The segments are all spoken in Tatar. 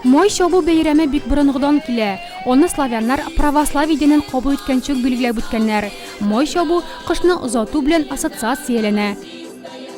Май чабу бәйрәме бик борынгыдан килә. Аны славяннар православие динен кабул иткәнче үк билгеләп үткәннәр. Май чабу кышны озату белән ассоциацияләнә.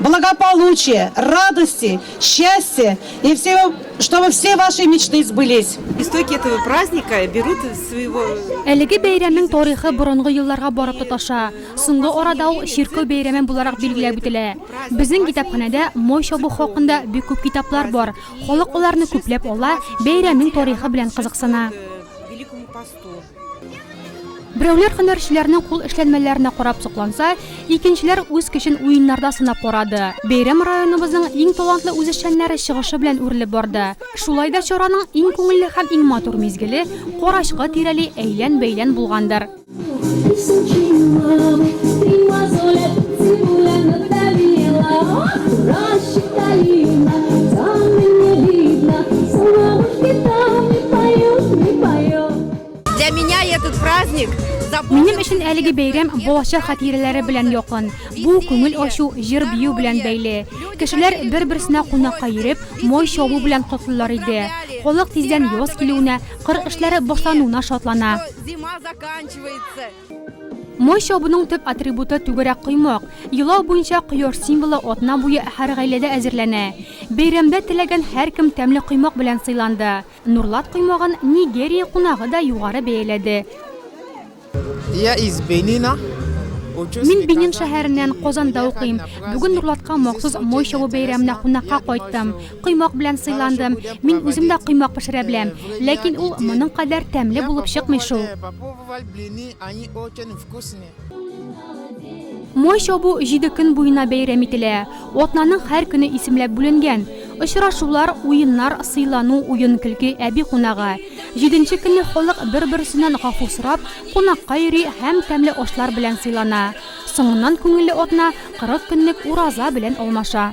благополучия, радости, счастья и всего, чтобы все ваши мечты сбылись. Истоки этого праздника берут из своего... Әлеге бәйрәмнең тарихы борынгы елларга барып тоташа. Соңгы арада ул чиркәү бәйрәме буларак билгеләп үтелә. Безнең китапханәдә мой чабу хакында бик күп китаплар бар. Халык аларны күпләп ала, бәйрәмнең тарихы белән кызыксына. Берәүләр һөнәрчеләрнең кул эшләнмәләренә карап сокланса, икенчеләр үз көчен уеннарда сынап карады. Бәйрәм районыбызның иң талантлы үзешчәннәре чыгышы белән үрелеп барды. Шулай да чараның иң күңелле һәм иң матур мизгеле карачкы тирәли әйлән-бәйлән булгандыр. Минем өчен әлеге бәйрәм балача хатирәләре белән якын. Бу күңел ачу, җыр бию белән бәйле. Кешеләр бер-берсенә кунакка йөреп, мой чабу белән котлыйлар иде. Халык тиздән яз килүенә, кыр эшләре башлануына шатлана. Май чабуның төп атрибуты түгәрәк коймак. Елау буенча кояш символы атна буе һәр гаиләдә әзерләнә. Бәйрәмдә теләгән һәркем тәмле коймак белән сыйланды. Нурлат коймагын Нигерия кунагы да югары бәяләде. Мин Бенин шәһәреннән, Казанда укыйм. Бүген Нурлатка махсус май чабу бәйрәменә кунакка кайттым. Коймак белән сыйландым. Мин үзем дә коймак пешерә беләм. Ләкин ул моның кадәр тәмле булып чыкмый шул. Май чабу җиде көн буена бәйрәм ителә. Атнаның һәр көне исемләп бүленгән. Очрашулар, уеннар, сыйлану, уен-көлке, әби кунагы. Җиденче көнне халык бер-берсеннән гафу сорап, кунакка йөри һәм тәмле ашлар белән сыйлана. Соңыннан күңелле атна 40 көнлек ураза белән алмаша.